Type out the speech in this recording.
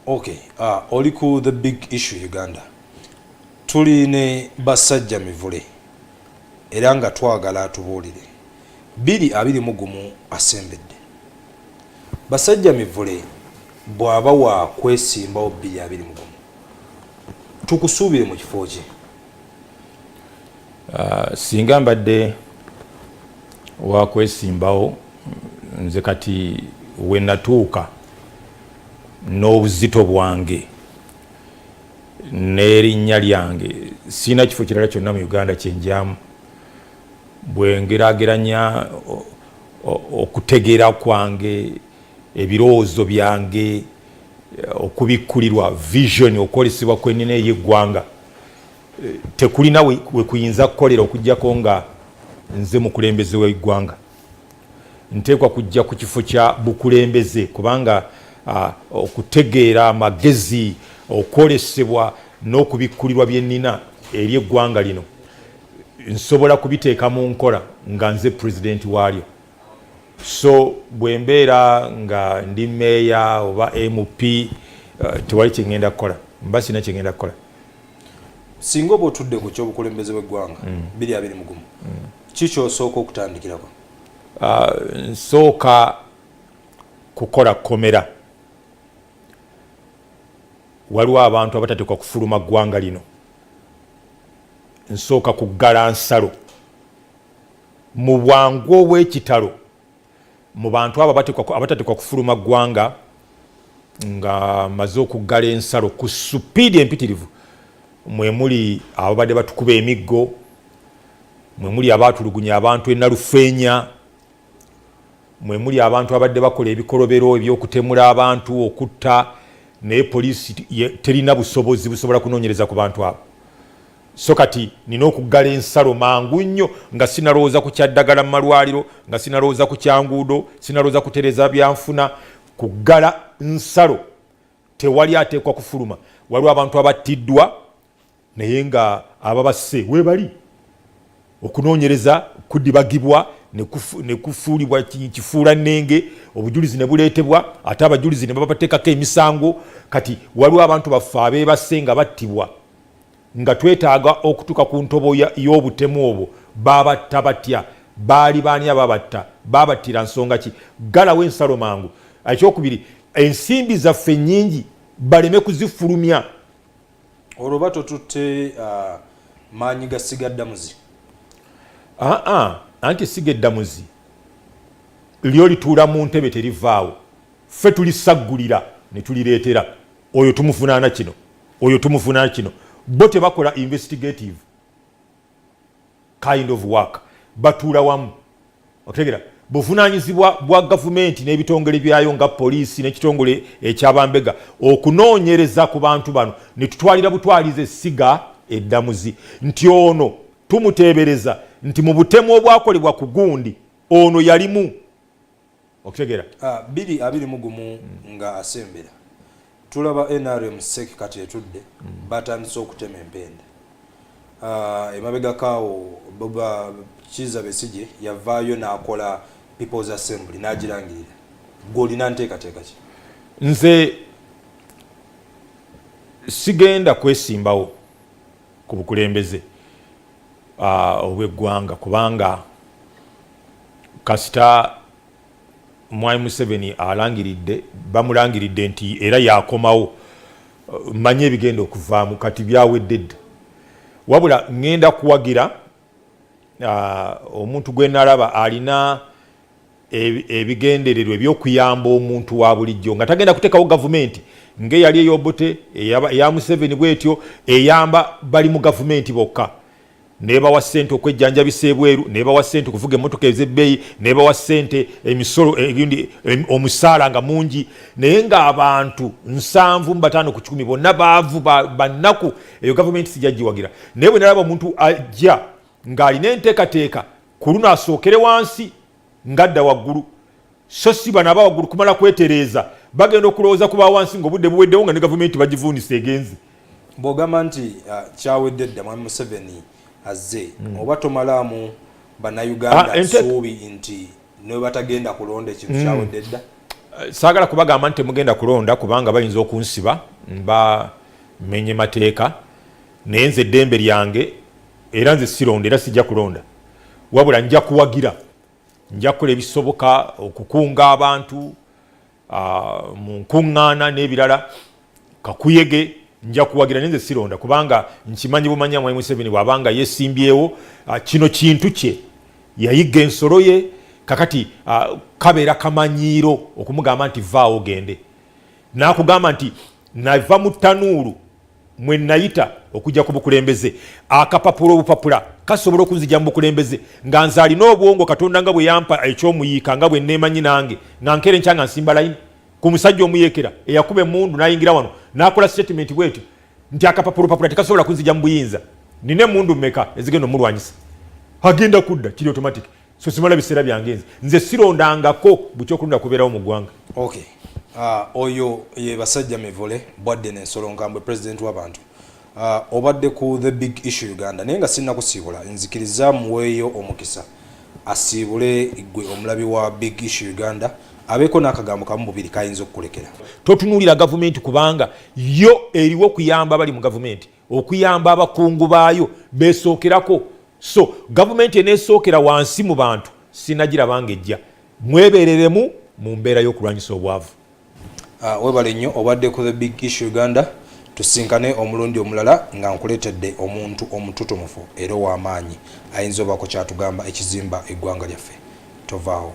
Okay, uh, oli ku the big issue Uganda tuli ne basajja mivule era nga twagala atubuulire biri abiri mu gumu asembedde basajja mivule bw'aba wa kwesimbawo biri abiri mu gumu tukusuubire mu kifo kye Uh, singa mbadde wakwesimbawo nze kati wenatuuka n'obuzito bwange n'erinnya lyange sirina kifo kirala kyonna mu uganda kyenjamu bwengerageranya okutegeera kwange ebirowoozo byange okubikkulirwa vision okwolesebwa kwenina ey'eggwanga tekulina wekuyinza kukolera okujjako nga nze mukulembeze wegwanga nteekwa kujja ku kifo kya bukulembeze kubanga uh, okutegeera amagezi okwolesebwa n'okubikkulirwa byennina eri eggwanga lino nsobola kubiteeka mu nkola nga nze pulezidenti waalyo so bwe mbeera nga ndi meeya oba mp eh, tewali kyengenda kukola mba sirina kyengenda kukola singa oba otudde ku kyobukulembeze bweggwanga mm. biri abiri mugumu mm. kikyosooka okutandikirako ah, nsooka kukola komera waliwo abantu abatateekwa kufuluma ggwanga lino nsooka kuggala nsalo Mu bwangu obw'ekitalo mu bantu abo abatateekwa kufuluma ggwanga nga maze okuggala ensalo ku supiidi empitirivu mwe muli ababadde batukuba emiggo mwe muli abaatulugunya abantu enalufeenya mwe muli abantu abadde bakola ebikolobero ebyokutemula abantu okutta naye poliisi terina busobozi busobola kunoonyereza ku bantu abo So kati nina okuggala ensalo mangu nnyo nga sinalowooza ku kyaddagala mu malwaliro, nga sinalowooza ku kyanguudo, sinalowooza kutereza byanfuna, kuggala nsalo. Tewali ateekwa kufuluma. Waliwo abantu abattiddwa naye nga ababasse webali. Okunoonyereza kudibagibwa ne kufuulibwa kifuula nnenge, obujulizi ne buleetebwa ate abajulizi ne babateekako emisango. Kati waliwo abantu baffe abeebasse nga battibwa. nga twetaaga okutuuka ku ntobo y'obutemu obwo baabatta batya baali baani ababatta baabattira nsonga ki galawo ensalo mangu ekyokubiri ensimbi zaffe nyingi baleme kuzifulumya olwo batotutte uh, maanyi ga siga ddamuzi aa anti siga eddamuzi lyo lituula mu ntebe terivaawo ffe tulisaggulira ne tulireetera oyo tumuvunaana kino oyo tumuvunaana kino bo tebakola investigative kind of work batuula wamu otegera buvunanyizibwa bwa gavumenti n'ebitongole byayo nga poliisi n'ekitongole ekyabambega okunoonyereza ku bantu bano ne tutwalira butwaliza essiga eddamuzi nti ono tumuteebereza nti mu butemu obwakolebwa ku gundi ono yalimu okutegera ah, biri abiri mugumu mm. nga asembera tulaba nrm sek kati etudde mm. batandise okutema empenda ah, emabegakaawo boba kiza besije yavaayo nakola peoples assembly nagirangirira gwolina nteekateeka ki nze sigenda kwesimbawo ku bukulembeze uh, obweggwanga kubanga kasita mwami museveni alangiridde bamulangiridde nti era yakomawo uh, manye ebigenda okuvaamu kati byaweddedde wabula ngenda kuwagira uh, omuntu gwenalaba alina ebigendererwa ebyokuyamba omuntu wa bulijjo nga tagenda kuteekawo gavumenti ng'eyali eyobote eya museveni bwetyo eyamba bali mu gavumenti bokka nebawa sente okwejjanjabisa ebweru nebawa sente okuvuga emotoka ezebbeeyi nebawa sente emisolo endi omusaala nga mungi naye ng'abantu nsanvu mubataano ku kikumi bonna baavu bannaku eyo gavumenti sijajjiwagira naye bwe nalaba omuntu ajja ng'alina enteekateeka ku luno asookere wansi ngadda waggulu so si bano aba waggulu kumala kwetereeza bagenda okulowooza ku bawansi ngaobudde buweddewo nga ne gavumenti bagivuunisa egenze bwogamba nti uh, kyawedde dda mwami museveni azze hmm. oba tomalaamu bannayuganda ah, suubi nti newebatagenda kulonda ekintu hmm. kyawedde dda uh, saagala kubagamba nti temugenda kulonda kubanga bayinza okunsiba bamenye mateeka naye nze eddembe lyange era nze sironda era sijja kulonda wabula nja kuwagira nja kukola ebisoboka okukunga abantu mu nkuŋŋaana n'ebirala kakuyege nja kuwagira naye nze sironda kubanga nkimanyi bumanya mwai museveni bwabanga yesimbyewo kino kintu kye yayigga ensolo ye kakati kabeera kamanyiiro okumugamba nti vaawo gende nakugamba nti nava mu tanuulu mwe nayita okujja ku bukulembeze akapapula obupapula kasobola okunzija mu bukulembeze nga nze alina obwongo katonda nga bwe yampa ekyomuyiika nga bwe neemanyi nange nga nkeera enkya nga nsimba layini ku musajja omuyeekera eyakuba emundu nayingira wano nakola statement bwetyo nti akapapula opapula tekasobola kunzija mu buyinza nina emundu meka ezigenda omulwanyisa agenda kudda kiri automatic so simala biseera byange nze nze sirondangako bukyokulunda kubeerawo mu ggwanga okay. uh, oyo ye basajja mivule bwadde nensolo nkambwe president w'abantu uh, obadde ku the big issue uganda naye nga sirina kusiibula nzikiriza muweeyo omukisa asiibule gwe omulabi wa big issue uganda abeeko n'akagambo kamu bubiri kayinza okukulekera totunuulira gavumenti kubanga yo eriwo kuyamba bali mu gavumenti okuyamba abakungu baayo besookerako so gavumenti eneesookera wansi mu bantu sinagirabanga ejja mwebereremu mu mbeera y'okulwanyisa obwavu ah, webale nnyo obadde ku the big issue uganda tusinkane omulundi omulala nga nkuleetedde omuntu omututumufu era ow'amaanyi ayinza obaako kyatugamba ekizimba eggwanga lyaffe tovaawo